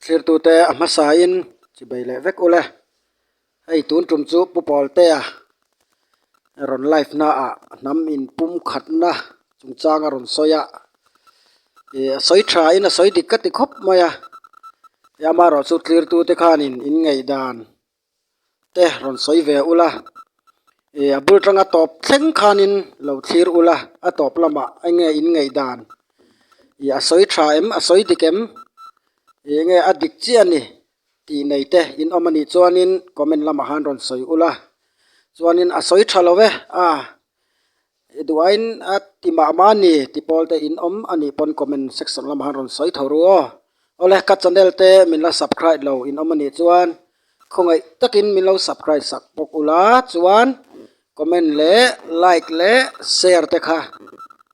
Thirtute a hmasain chi bei leh vek ula hei tun tum chu pu pawltea rawn live na ah hnam in pum khat na chung changa rawn sawi a ih a sawi tha in a sawi dik ka ti khawp mai a tia mah erawh chu tlirtute khanin in ngaih dan-- te rawn sawi ve a ula ih a bul tanga tawp thleng khanin lo thlir ula a tawp lamah enge in ngaih dan ih a sawi tha em a sawi dik em ih enge a dik chiah a ni tih neite in awm anih chuanin comment lamah han rawn sawi ula chuanin a sawi tha lo e a. He duhaiin a ti mah mah ni ti pawl te in awm a nih pawn comment section lamah han rawn sawi tho ru aw. Awle ka channel te min la subcribe lo in awm a nih chuan khawngaih takin min lo subcribe sak bawk u la chuan comment leh like leh share te kha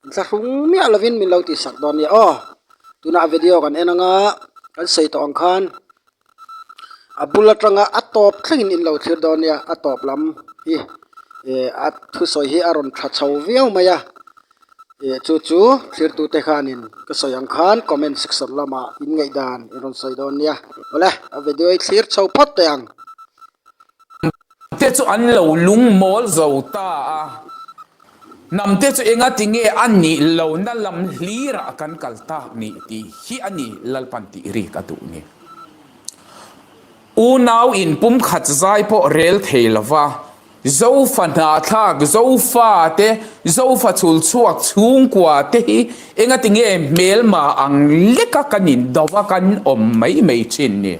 in thla hrung miah lovin min lo tih sak dawn nia aw. Tunah video kan en anga kan sawi tawh ang khan a bul atanga a tawp thlengin in lo thlir dawn nia a tawp lam hi eh a thusawi hi a rawn tha chho viau mai a eh chu chu thlir tute hianin ka sawi ang khan comment section lamah in ngaih dan i rawn sawi dawn nia awle a video hi a thlir chho phawt teh ang. Hnamte chu an lo lungmawl zo ta a, hnamte chu enga tinge a nih lohna lam hlir a kan kal ta ni tih hi a ni, Lalpan tih rik a duh ni. Unau in pumkhat zai pawh rel thei lova Zofa hnahthlak, Zofa te, Zofa chul chhuak chhungkua te hi enga tinge hmelma ang leka kan indova kan awm mai mai thin ni.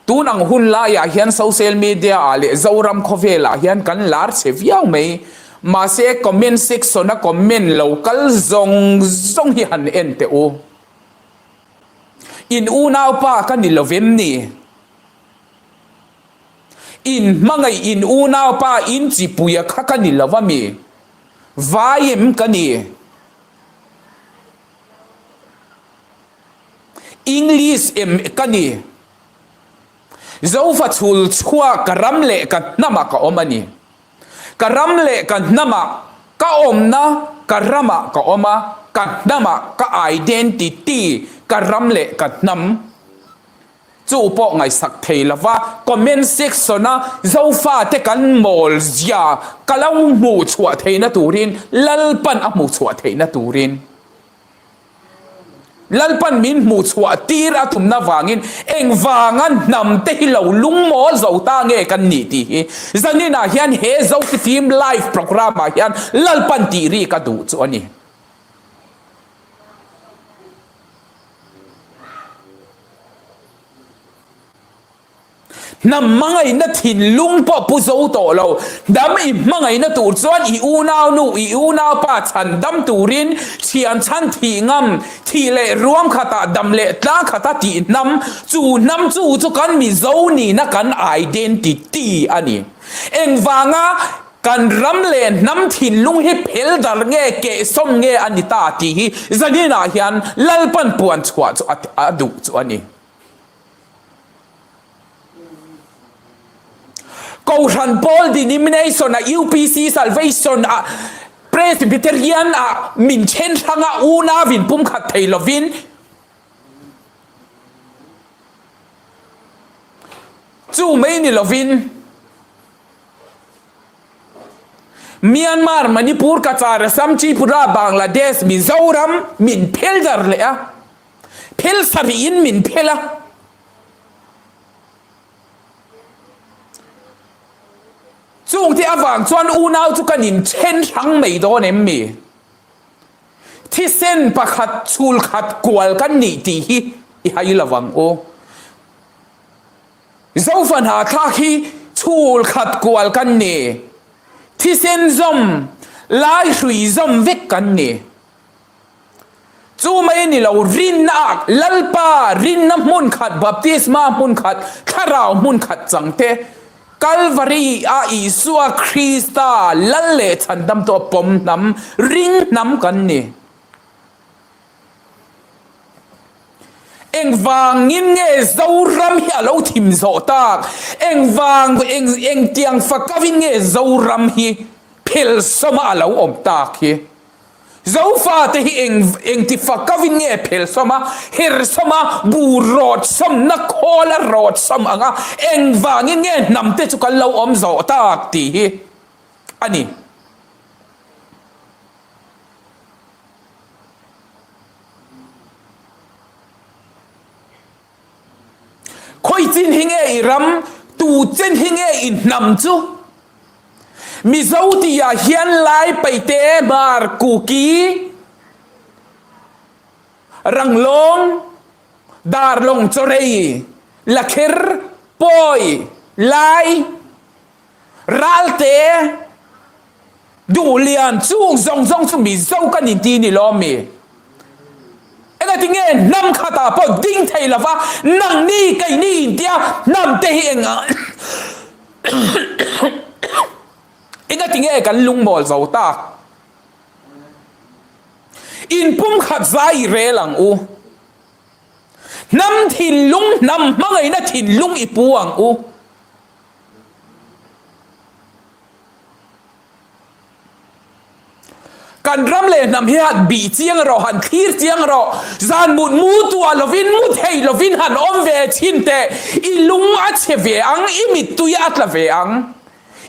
Tun ang hun laiah hian social media ah leh Zoram khawvel ah hian kan lar che viau mai. Mahse comment section a comment lo kal zawng zawng hi han en teh u. In unaupa ka ni lovem ni? In hmangaih in unaupa in chipuia kha ka ni lova mi? Vai em ka ni? English em ka ni? Zofa chhul chhuak ka ram leh ka hnamah ka awm a ni. Ka ram leh ka hnamah, ka awmna ka ramah ka awm a, ka hnamah, ka identity, ka ram leh ka hnam. Chu pawh ngaihsak thei lo va, comment section-a Zofa te kan mawl zia ka lo hmuh chhuah theihna turin, Lalpan a hmuh chhuah theihna turin. Lalpan min hmuh chhuah tir a tumna vangin engvanga hnamte hi lo lungmawl zo ta nge kan nih tih hi zaninah hian he Zotipim live programme ah hian Lalpan tih ri ka duh chu a ni. Hnam hmangaihna thinlung pawh pu zo tawh lo. Hnam i hmangaihna tur chuan i unaunu, i unaupa chhan dam turin thian chhan thih ngam, thih leh ruam khata, dam leh tlang khata tih hnam, chu hnam chu chu kan Mizo nihna kan identity a ni. Engvanga kan ram leh hnam thinlung hi pheldar nge, kehsawm nge a ni ta tih hi Zanina hian Lalpanpuan chhuah chu a duh chu a ni. Kohhran Paul Denomination a UPC Salvation a Presbyterian a min then hrang a un a vin pum khat thei lovin chu mai ni lovin Myanmar Manipur Kachar Assam Tripura Bangladesh Mizoram min phel dar leh a phel sarih in min phel a. Chung te avang chuan unau chu kan in then hrang mai dawn em mi? Thisen pakhat chhul khat kual kan nih tih hi i hai lo vang u. Zofa hna thlak hi chhul khat kual kan ni, thisen zawm, Laihrui zawm vek kan ni. Chu mai ni lo, rinna ah Lalpa rinna hmun khat, Baptisma hmun khat, Thlarau hmun khat chang te, Calvary ah Isua Krista lal leh chhan damtu a pawm hnam, ring hnam kan ni. Engvang in nge Zoram hi a lo thim zawh tak? Engvang, eng, engtiang fakav in nge Zoram hi phel sawmah a lo awm tak hi? Zofa te hi eng engtifa ka vin nge phel sawm a, her sawm a, bu rawt sawm, na khawl a rawt sawm ang a, engvangin nge hnam te chu kan lo awm zawh tak tih hi a ni. Khawi chin hi nge i ram, tu chen hi nge i hnam chu? Mizo tia hian Lai Paite, Hmar, Kuki, Ranglawng, Darlawng, Chawrei, Lakher, Pawi, Lai, Ralte duh lian chûng zawng zawng chu mi zo ka ni ti ni lawm mi? Engati nge hnam khatah pawh ding thei lova nang ni kei ni in tia hnam te hi eng engati nge kan lungmawl zo ta? In pumkhat zai i rel ang u. Hnam thinlung hnam hmangaihna thinlung i pu ang u. Kan ram leh hnam hi han bih chiang erawh, han thlir chiang erawh, zan mut mu tuah lovin, mut hei lovin han awm ve thin teh. I lung a che ve ang, i mittui a tla ve ang.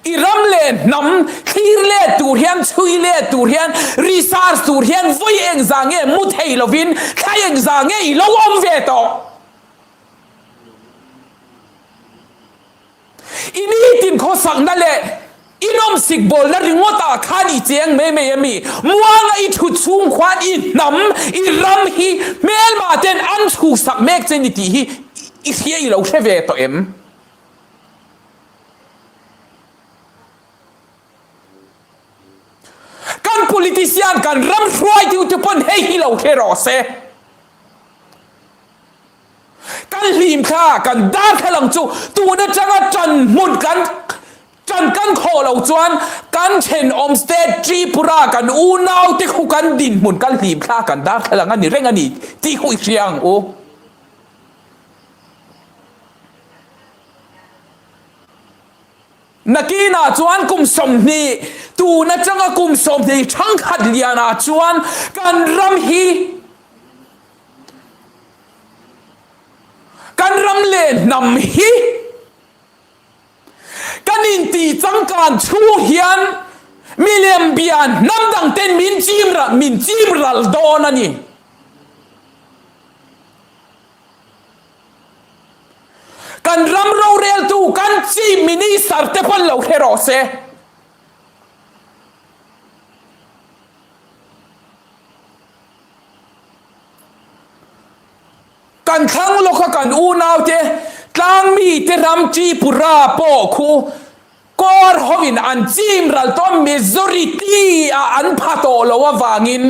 I ram leh hnam thlir let tur hian, chhui let tur hian, research tur hian vawi eng zah nge, mut hei lovin, thlai eng zah nge i lo awm ve tawh. I nitin khawsakna leh i nawmsik bawlna ringawtah khan i cheng mai mai a mi. Muanga i thu chhung khuan i hnam, i ram hi hmelma ten an chhuksak mek che ni tih hi i hria i lo hre ve tawh em? Kan politician kan ram hruai deuh te pawn hei hi lo hle rawh se. Kan hlimthla, kan darthlalang chu tun atanga tan hmun kan tan kan khawh lo chuan kan thenawm state Tripura kan unaute khu kan dinhmun kan hlimthla kan darthlalang a ni reng a ni tih khu i hria ang u. Nakin ah chuan kum sawmhnih tun atanga kum sawmhnih thangkhat lian ah chuan kan ram hi kan ram leh hnam hi kan inti changkan chhung hian milem bia hnam dang ten min chim ralh min chim ralh dawn a ni. Kan ram roreltu kan Chief Minister te pawn lo hre rawh se. Kan thlang lawka kan unaute, tlangmite ram Tripura pawh khu Kawr hoin an chim ral tawm majority a an pha tawh loh avangin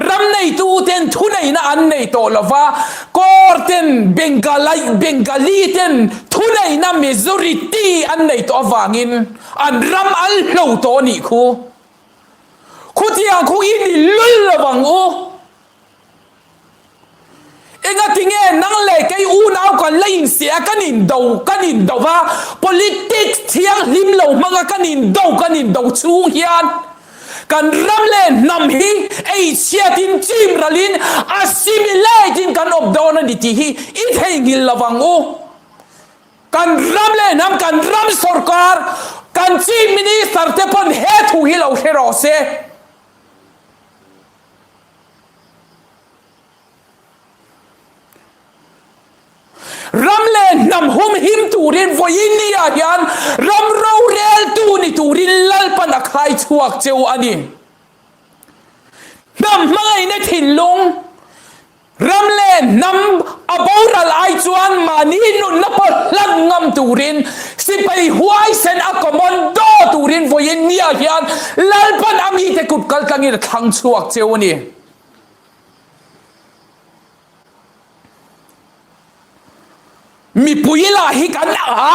ram neitu ten thuneihna an nei tawh lo va, kawr ten bengalai bengali ten thuneihna majority an nei tawh avangin an ram al hlo tawh anih khu. Khutiang khu i nilul lo ang u. Engatinge nang leh kei unau kan la insiah, kan indo, kan indo va, politics thianghlim lo hmanga kan indo, kan indo chhung hian kan ram leh hnam hi ei chhiatin, chimralin, assimilate in kan awp dawn a ni tih hi i theihnghilh lo vang u. Kan ram leh hnam, kan ram sorkar, kan Chief Minister te pawn he thu hi lo hre rawh se. Ram leh hnam hum him turin Voyinnia hian ram roreltu ni turin Lalpan a khai chhuak cheu a ni. Hnam hmangaihna thinlung. Ram leh hnam a boral ai chuan mahni nunna pawh hlan ngam turin sipai huaisen a commando turin vawiin ni ah hian Lalpan a mite kut kal tlangin a thlang chhuak cheu a ni. Mipui lah hi kan ah a.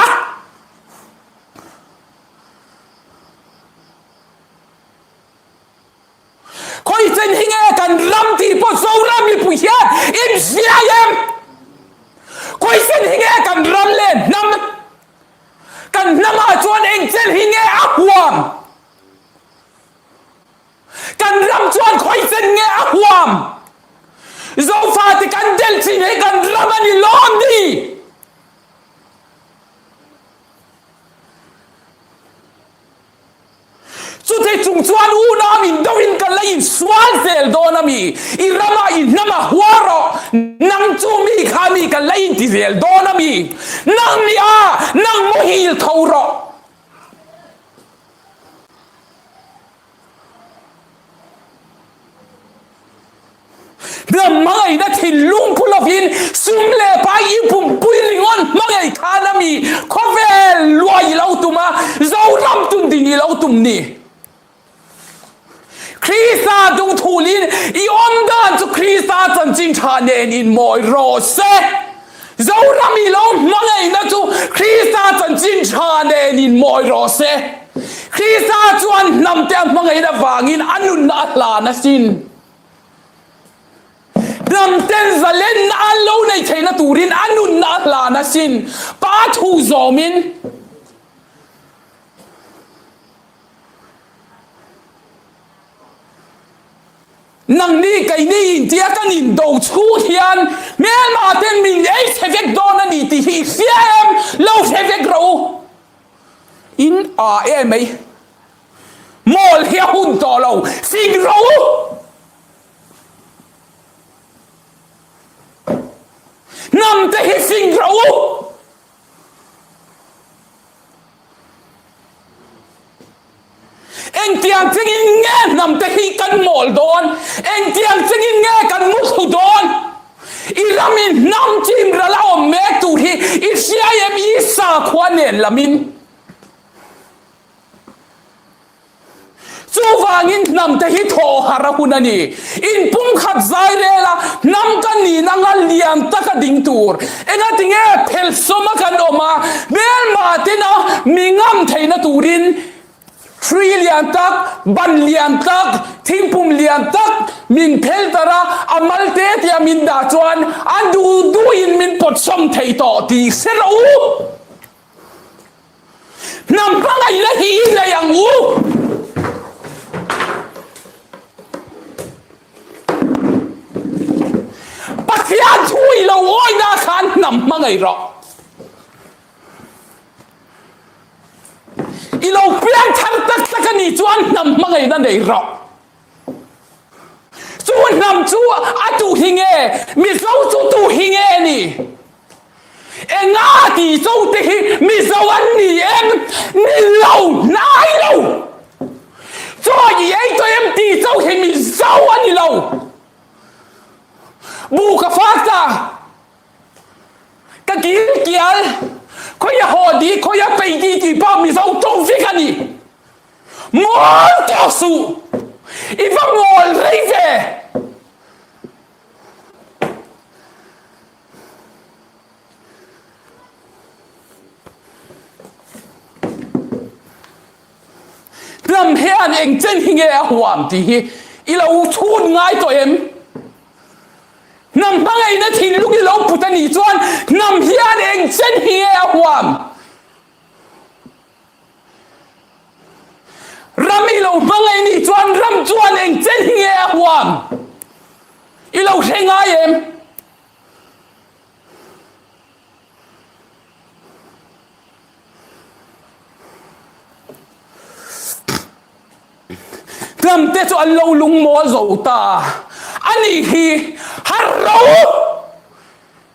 Khawi chen hi nge kan ram tih pawh Zoram mipui hian in hriai em? Khawi chen hi nge kan ram len hnam? Kan hnam ah chuan engchel hi nge a huam? Kan ram chuan khawi chen nge a huam? Zofa te kan del chin hi kan ram a ni lawm ni? Chutichung chuan una min do in ka la insual zel dawn a mi, i rama i hnama hua rawh, nang chu mi kha mi ka la inti zel dawn a mi, nang nih a nang muhil tho rawh. Ram hmangaihna thinlung phu lovin sum leh pai i pumpui ringawn hmangaih khan a mi khawvel luai i lo tum a, Zohram tum ding i lo tum ni. Krista dungthuhlin i awm dan chu Krista chanchin tha nen in mawi rawh se. Zohram i lo hmangaihna chu Krista chanchin tha nen in mawi rawh se. Krista chuan hnamte a hmangaihna vangin a nunna a hlan asin. Hnamten zalen a lo nei theihna turin a nunna a hla nasin pa thu zawmin Nangni kei ni in tia kan in do chhut hian hmel mahte min ei che vek dawn a ni tih hi i hria em lo hre vek rawh u in a e mai. Mall hi a hun tawh lo, fing ro! Hnam te hi fing ro! Engtiang chengin nge hnam te hi kan mall dawn? Engtiang chengin nge kan mu thu dawn? I lam in hnam chim ral a awm mek tur hi i hria em Isa khua nen lam in? Chuvangin hnamte hi thawhara hun a ni. In pumkhat zai lela hnam kan nihna ngal lian taka ding tur engatinge phelhsawma kan awm a, belmahtena mi ngam theihna turin hrui lian tak, ban lian tak, thingpum lian tak min phel darh a, a mal te tia min dah chuan a duh duhin min pawt sawm thei tawh ti se rawh u. Hnam pangai la hi i nei ang u. Pathian thu i lo awi na khan hnam hmangai rawh. I lo piang thar tak tak a nih chuan hnam hmangai na nei rawh. Chu hnam chu a tu hi nge? Mizo chu tu hi nge ni? Enga ti cho te hi Mizo an ni em? Ni lo, hnai lo! Chaw i ei tawh em ti cho hi Mizo a ni lo! Bu ka fak ta, ka kil kial, khawi a haw ti, khawi a pei ti ti pah Mizo tum fik a ni! Mual tawk suh! I va mual rei ve! Hnam hian engchen hi nge a huam tih hi i lo chhun ngai tawh em? Hnam hmangaihna thinlung i lo put a nih chuan hnam hian engchen hi nge a huam? Ram i lo hmangaih nih chuan ram chuan eng che ni nge a huam? I lo hre ngai em? Ram te chu an lo lungmaw zo ta a. Anih hi har ro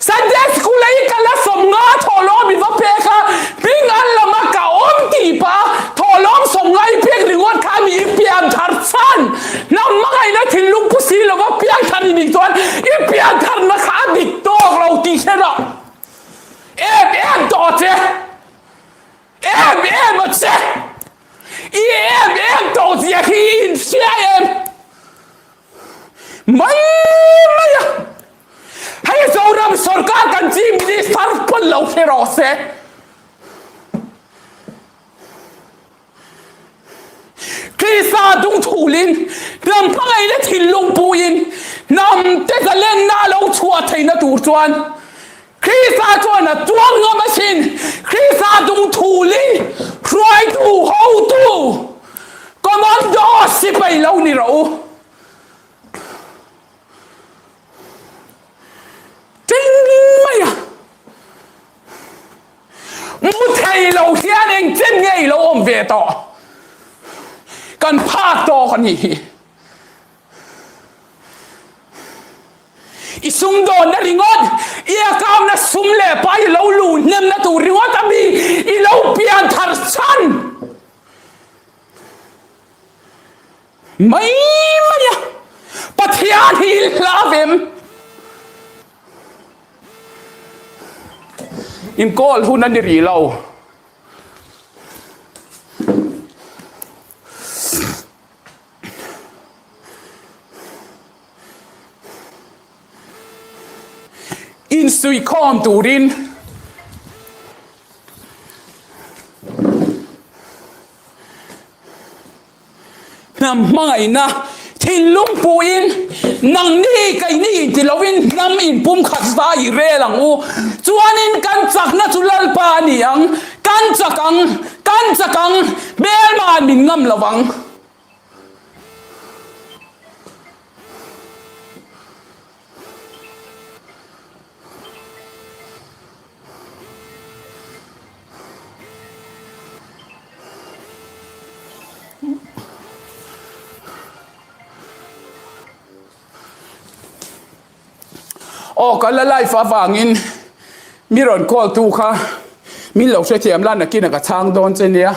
Sunday school a i kal a sawmnga thawhlawm i va pek a, hming an lam a ka awm tih pah a, thawhlawm sawmnga i pek ringawt kha mi i piang thar chhan, hnam hmangaihna thinlung pu si lova piang thar i nih chuan i piang tharna kha a dik tawk lo tih hre rawh, em em tawh che. Em em a che! I em em tawh zia khi i infiah em mai mai a! Hei Zoram sorkar kan Chief Minister pawn lo hre rawh se, Krista dungthuhlin hnam hmangaih le thil lungpuiin hnamte zalengna lo chhuah theihna tur chuan Krista chuan a tuam ngam asin, Krista dungthuling hruaitu hotu Commandos sipai lo ni rawh u. Ching mai a mu thei lo hian eng chin nge i lo awm ve tawh? Kan phak tawk a nih hi. I sumdawnna ringawt, i akamna sum leh pa i lo lu hnemna tur ringawt a mi i lo pian thar chhan mai mai a, Pathian hi i hla ve em? Inkawl hun a ni rih lo. Insuih khawm turin hnam hmangaihna thinlung puin nang ni kei ni ti loin hnam inpum khat va i rel ang u chuanin kan chakna chu lalpa a ni ang. Kan chak ang, kan chak ang, hmel mah min ngam lo vang. Aw ka la life avangin mi rawn call tu kha min lo hrethiam la nakin aka chhang dawn che nia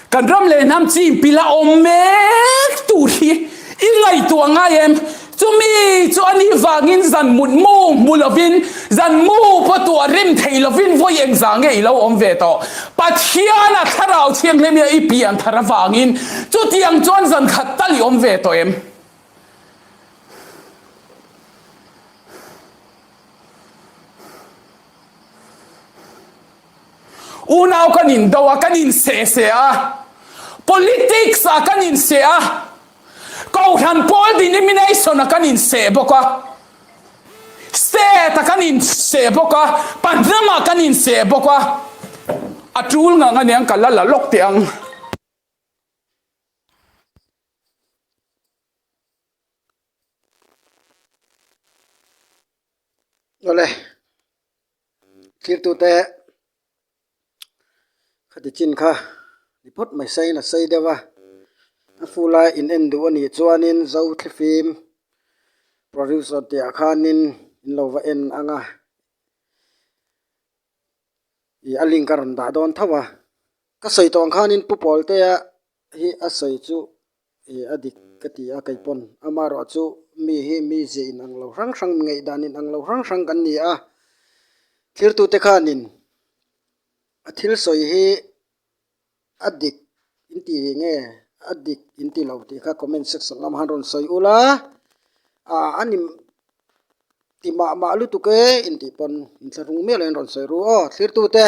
kan ram leh hnam chi in pila awm mek tur hi i ngaihtuah ngai em. Chumi chu a nih vangin zan mut mu hmu lovin, zan mu pawh tu a rem thei lovin vawi eng za nge i lo awm ve tawh? Pathiana Thlarau Thianghlim i pian thar avangin chutiang chuan zan khat tal i awm ve tawh em? Unau kan in do a, kan in seh seh a, politics ah kan in seh a, Kohhran pawl denomination ah kan in seh bawk a, state ah kan in seh bawk a, pahnam ah kan in seh bawk a, a tul ngang aniang ka la la lawk teh ang. Awle. Thirtute khati chin kha ni phawt mai saiin a sai deuh a, a fu lai in en duh a nih chuanin zo thli fim producer tih ah khanin in lo va en ang a, ih a link a rawn dah dawn tho a, ka sawi tawn khanin pu pawl te ah Hi a sawi chu ih a dik ka ti a kei pawn amarawh chu mi hi mi zia in ang lo hrang hrang mi ngeih dan in ang lo hrang hrang kan ni a thirtu te khan in a thil sawi hi a dik in ti ve nge a dik in ti lo tih kha comment section lam han rawn sawi ula ah a ni ti mah mah lutuk e in tih pawn in thlahrung miah lo in rawn sawi ru aw thlir tute.